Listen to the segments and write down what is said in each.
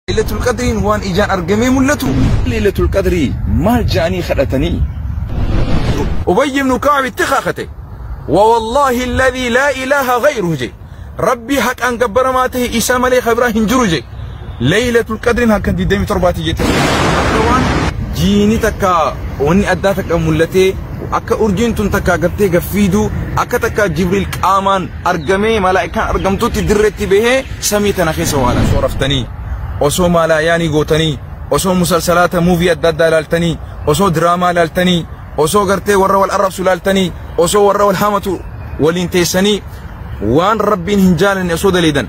Lailatul Qadriin waan ijaan argamee mul'atu. Lailatul Qadrii maal ja'anii kadhatanii? Ubayy ibn Ka'ab itti kakate. Wa wallaahi alladhii laa ilaaha ghayruhu je. Rabbii haqaan gabbaramaa ta'e isaa malee kan biraa hin jiru je. Lailatul Qadriin halkan 27ti jette. Akka waan jiini takka wanni addaa takka mul'atee akka urjiin tun takka gartee gaffiiduu akka takka Jibriil qaamaan argamee malaa'ikaan argamtutti dirreetti bahee samii tana keessa waan osoo raftanii osoo maalaayaanii gootanii osoo musalsalaata muuvii adda addaa ilaaltanii osoo diraamaa ilaaltanii osoo gartee warra wal arrabsu ilaaltanii osoo warra wal hamatu waliin teessanii waan rabbiin hin jaalanne osoo daleedan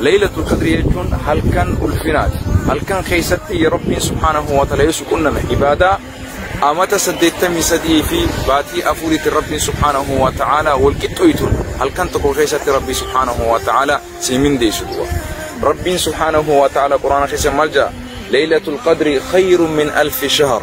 Laylatul Qadrii jechuun halkan ulfinaati. Halkan keessatti ya Rabbiin subhaanahu wa ta'aala yoo si qunname ibaadaa amata 83 fi baatii afuriitiin Rabbiin subhaanahu wa ta'aala wal qixxooytuun halkan tokko keessatti Rabbii subhaanahu wa ta'aala sii mindeessu du'a. Rabbiin subhaanahu wa ta'aala Qur'aana keessa maal ja'a? Laylatul Qadrii khayrun min alfi shahr.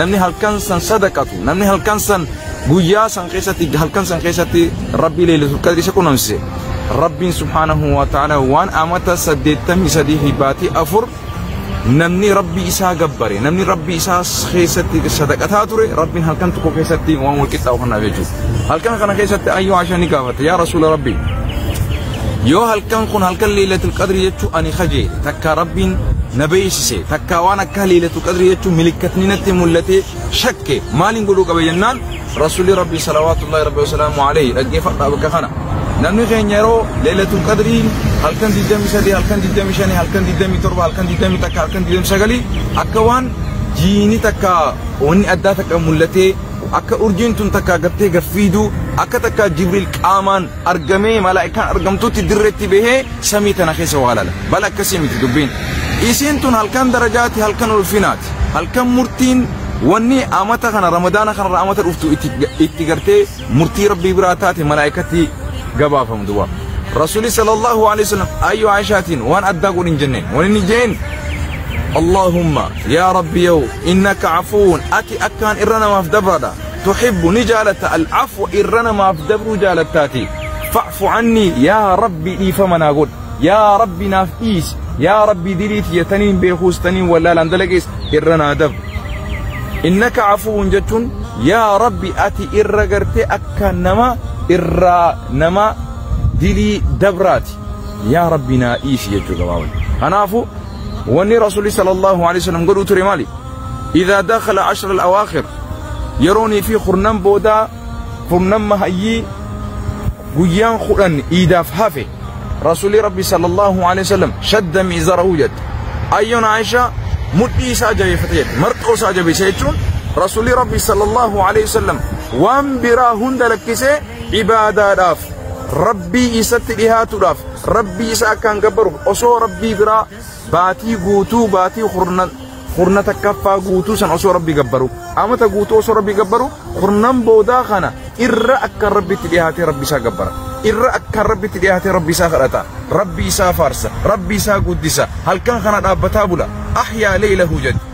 namni halkan san sadaqatu namni halkan san guyyaa san keessatti halkan san keessatti rabbii leelisu qadri isa qunnamsise rabbiin subhaanahu wa ta'ala waan amata saddeettamii sadii fi baatii afur namni rabbii isaa gabbare namni rabbii isaa keessatti sadaqataa ture rabbiin halkan tokko keessatti waan walqixxaawu kanaaf jechuudha. halkan kana keessatti ayyuu Aisha ni gaafate yaa rasuula rabbii yoo halkan kun halkan leelatul qadri jechuu ani kajeele takkaa rabbiin na beeksise takkaa waan akka leelatul qadri jechuu milikkatni natti mul'ate shakke maaliin godhuu qaba jennaan rasuulli rabbii salawaatullaahi rabbi wasalaamu alayhi dhaggeeffadhaa bakka kana namni keenya yeroo leelatul qadrii halkan 23 halkan 25 halkan 27 halkan 21 halkan 29 akka waan jiini takka wanni addaa takka mul'atee Akka urjiin tun takkaa gattee gad fiidu, akka takkaa Jibriil qaamaan argamee malaa'ikaan argamtutti dirreetti bahee samii tana keessa waa lala. Bal akkasii miti dubbiin. Isiin tun halkan darajaati, halkan ulfinaati. Halkan murtiin wanni amata kana ramadaana kanarra amata dhuftu itti, itti gartee murtii Rabbii biraa taate malaa'ikatti gabaafamtu waa. Rasuulli sallallahu alaihi wasallam ayyu Aishaatiin waan addaa godhin jenneen. Waan inni jeen Allahumma yaa Rabbi yoo Innaka Afuwwun, ati akkaan irra namaaf dabraadha. Tuhibbu, ni jaalatta, Al-Afwa, irra namaaf dabruu jaalattaatii. Fa'fu Anni, yaa Rabbi dhiifama naa godhi, yaa Rabbi naaf dhiisi, yaa Rabbi dilii tiyya taniin beekuus taniin wallaalaan dalagees irra naa dabri. Innaka Afuwwun jechuun yaa Rabbi ati irra gartee akkaan nama irraa nama dilii dabraati. Yaa Rabbi naa dhiisi jechuu gabaabatti. Kanaafu, Wanni Rasuulli sallallahu alaihi wasallam godhuu ture maali? Idaa dakhala ashra al-awaakhir yeroonii fi kurnan boodaa kurnan mahayyii guyyaan kudhan iidaaf hafe Rasuulli Rabbi sallallahu alaihi wasallam shadda miizarahu jette. Ayyoon Aishaa mudhii isaa jabeeffate jette. Marxoo isaa jabeesse jechuun Rasuulli Rabbi sallallahu alaihi wasallam waan biraa hunda lakkisee ibaadaadhaaf rabbii isatti dhihaatudhaaf rabbii isa akkaan gabbaruuf osoo rabbii biraa baatii guutuu baatii kurna kurna takkaffaa guutuu san osoo rabbii gabbaru amata guutuu osoo rabbii gabbaru kurnan boodaa kana irra akkaan rabbitti dhihaatee rabbi isaa gabbara irra akkaan rabbitti dhihaatee rabbi isaa kadhata rabbi isaa faarsa rabbi isaa guddisa halkan kana dhaabbataa bula ahyaa leeylahu jedhe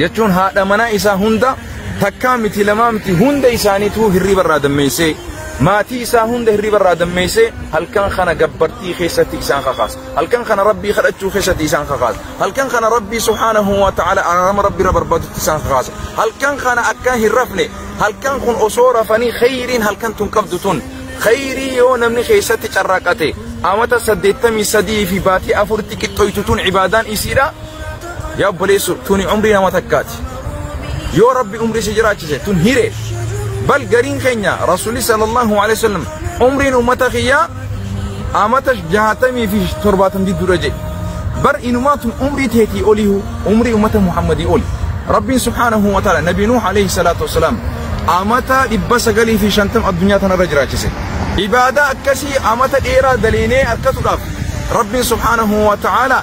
jechuun haadha manaa isaa hunda takkaa miti lamaa miti hunda isaaniituu hirriba irraa dammeessee maatii isaa hunda hirriba irraa dammeessee halkan kana gabbartii keessatti isaan kakaasa halkan kana rabbii kadhachuu keessatti isaan kakaasa halkan kana rabbii subhaanahu wa ta'ala araarama rabbii irra barbaadutti isaan kakaasa halkan kana akka hin rafne halkan kun osoo rafanii kheyriin halkan tun qabdu tun kheyrii yoo namni keessatti carraaqate amata saddeettamii sadii fi baatii afuritti qixxoytu tun cibaadaan isiidha Yaa obboleessoo tuni umrii nama takkaati. Yoo rabbi umrii si jiraachise tun hiree. Bal gariin keenya rasuulli sallallahu alaihi wasallam umriin ummata kiyyaa amata jaatamii fi torbaatam jidduudha jedhe. Bar inumaa tun umrii teetii oliihu umrii ummata Muhammadii oli. Rabbiin subhaanahu wa ta'ala nabi Nuuh alaihi salaatu wasalaam amata dhibba sagalii fi shantam addunyaa tanarra jiraachise. Ibaadaa akkasii amata dheeraa daleynee harkatuudhaaf Rabbiin subhaanahu wa ta'ala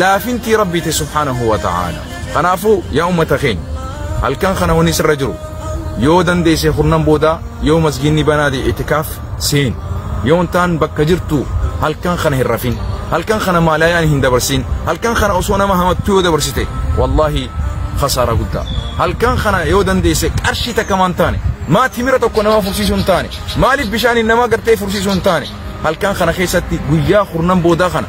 laafintii Rabbiiti subhaanahu wa ta'aalaa. Kanaafuu yaa ummata keenya halkan kana wanni sirra jiru yoo dandeesse kurnan boodaa yoo masgiinni banaa ta'e itikaaf seen yoo hin taan bakka jirtu halkan kana hin rafin halkan kana maalaayaan hin dabarsin halkan kana osoo nama hamattuu yoo dabarsite wallaahi khasaara guddaa halkan kana yoo dandeesse qarshii takka maan taane maa timira tokko nama fursiisuu hin taane maaliif bishaaniin nama gartee fursiisuu hin taane halkan kana keessatti guyyaa kurnan boodaa kana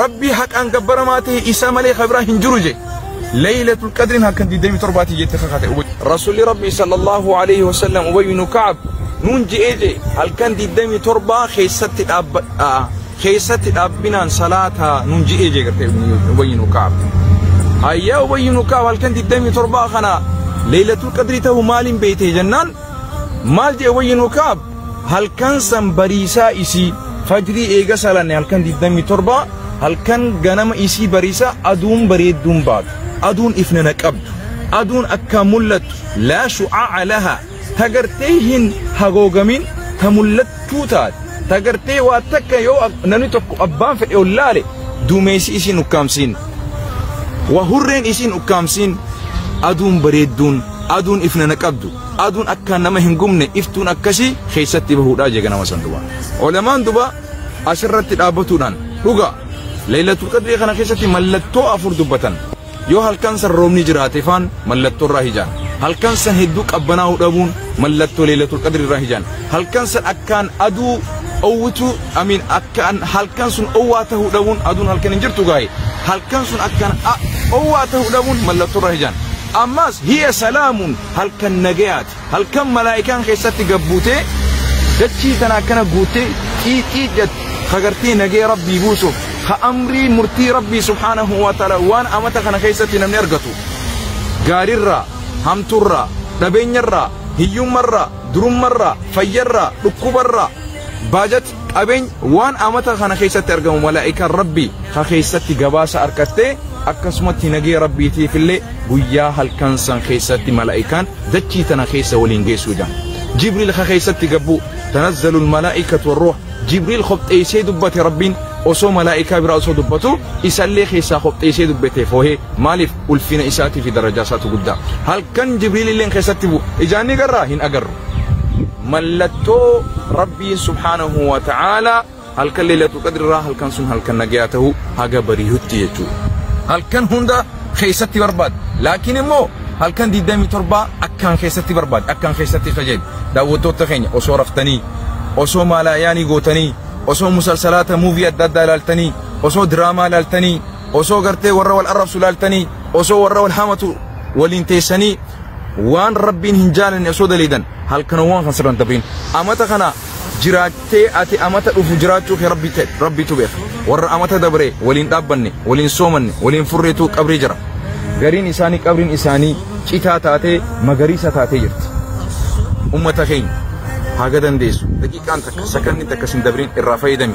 Rabbii haqaan gabbaramaa ta'e isaa malee kan biraa hin jiru jee. Leeylatul Qadriin halkan 27ti jette kakate. Rasuulli Rabbii sallallahu alaihi wasallam Ubay ibn Ka'ab nuun je'ee jee halkan 27 keessatti dhaabbadhaa. Keessatti dhaabbinaan salaataa nuun je'ee jee gartee Ubay ibn Ka'ab. Hayyaa Ubay ibn Ka'ab halkan 27 kana Leeylatul Qadrii ta'uu maaliin beeytee jennaan maal jee Ubay ibn Ka'ab Halkan san bariisaa isii fajrii eega salanne halkan 27 halkan ganama isii bariisaa aduun bareedduun baatu aduun ifna na qabdu aduun akkaan mul'attu laa shu'aa'a lahaa ta gartee hin hagoogamin ta mul'attuu taate ta gartee waa takka yoo ak- namni tokko abbaan fedhe ol laale duumeessi isiin ukkaamsiin waa hurreen isiin ukkaamsiin aduun bareedduun aduun ifna na qabdu Aduun akkaan nama hin gubne iftuun akkasii keessatti bahuudhaa jee ganama san duba. Olamaan duba asirratti dhaabbatuudhaan dhuga Laylatul Qadrii kana keessatti mallattoo afur dubbatan. Yoo halkan san roobni jiraate faan mallattoo irraa hijaan. Halkan san hedduu qabbanaa'uu dhabuun mallattoo Laylatul Qadrii irraa hijaan. Halkan san akkaan aduu owwitu amiin akkaan halkan sun owwaa ta'uu dhabuun aduun halkan hin jirtu gaa'e. Halkan sun akkaan owwaa ta'uu dhabuun mallattoo irraa hijaan. Ammas hiya salaamuun halkan nagayaati. Halkan malaa'ikaan keessatti gad buutee dachii tana akkana guuttee xiixiit jatti kagartee nagaya rabbii buusuuf ka amrii murtii rabbii subhaanahu wa ta'ala waan amata kana keessatti namni argatu gaarirraa hamturraa dhabeenyarraa hiyyummarraa durummarraa fayyarraa dhukkubarraa baajat qabeenya waan amata kana keessatti argamu malaa'ikaan rabbii ka keessatti gabaasa harkattee akkasumatti nagee rabbiitiif illee guyyaa halkan san keessatti malaa'ikaan dachii tana keessa waliin geessuu jedhan jibriil ka keessatti gabbuu tanazzalu malaa'ikatu warruuha jibriil qopheessee dubbate rabbiin osoo malaa'ikaa biraa osoo dubbatu isallee keessaa qopheessee dubbate foohee maaliif ulfina isaatii fi darajaa isaatu guddaa halkan jibriil illee keessatti bu'u ijaanni garraa hin agarru mallattoo rabbiin subhaanahu wa ta'aalaa halkan leelatu qadrirraa halkan sun halkan nagayaa ta'uu haga bariyutti jechuudha. Halkan hunda keessatti barbaada. Laakiin immoo halkan 27 akkaan keessatti barbaada. Akkaan keessatti qajeeli. Daawwattoota keenya osoo raftanii, osoo maalaayaanii gootanii, osoo musalsalaata muuvii adda addaa ilaaltanii, osoo diraamaa ilaaltanii, osoo gartee warra wal arrabsu ilaaltanii, osoo warra wal hamatu waliin teessanii waan rabbiin hin jaalanne osoo daleeydan halkanowwan kan sirran dabriin amata kana jiraattee ati amata dhufu jiraachuu kee rabbi ta'e rabbiitu beeka warra amata dabree waliin dhaabbanne waliin soomanne waliin furreetu qabrii jira gariin isaanii qabriin isaanii citaa taatee magariisa taatee jirti ummata keenya haga dandeessu daqiiqaan takka sakanni takka sin dabriin irraa fayyadami